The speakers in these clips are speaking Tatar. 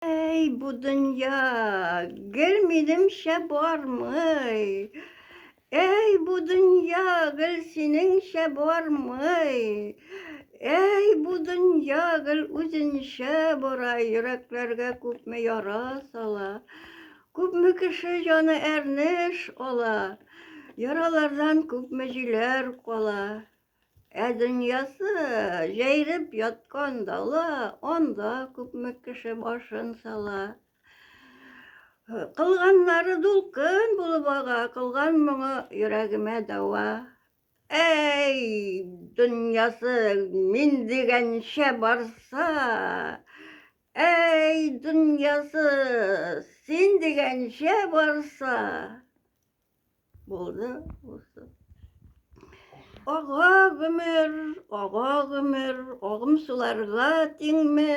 Әй, бу дөнья гел минемчә бармый. Әй, бу дөнья гел синеңчә бармый. Әй, бу дөнья гел үзенчә бара, йөрәкләргә күпме яра сала. Күпме кеше җаны әрнеш ала, яралардан күпме җиләр кала. Ә дөньясы җәйреп яткан дала, анда күпме кеше башын сала. Кылганнары дулкын булып ага, кылган моңы йөрәгемә дәва. Әй, дөньясы мин дигәнчә барса, әй, дөньясы син дигәнчә барса. Булды, булды. Ага гомер, ага гомер, агым суларга тиңме?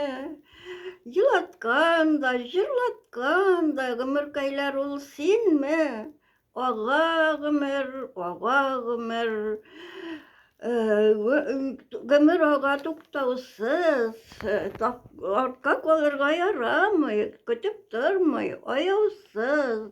Елаткан да, җырлаткан да гомеркәйләр ул синме? Ага гомер, ага гомер, гомер ага туктаусыз, артка калырга ярамый, көтеп тормый, аяусыз.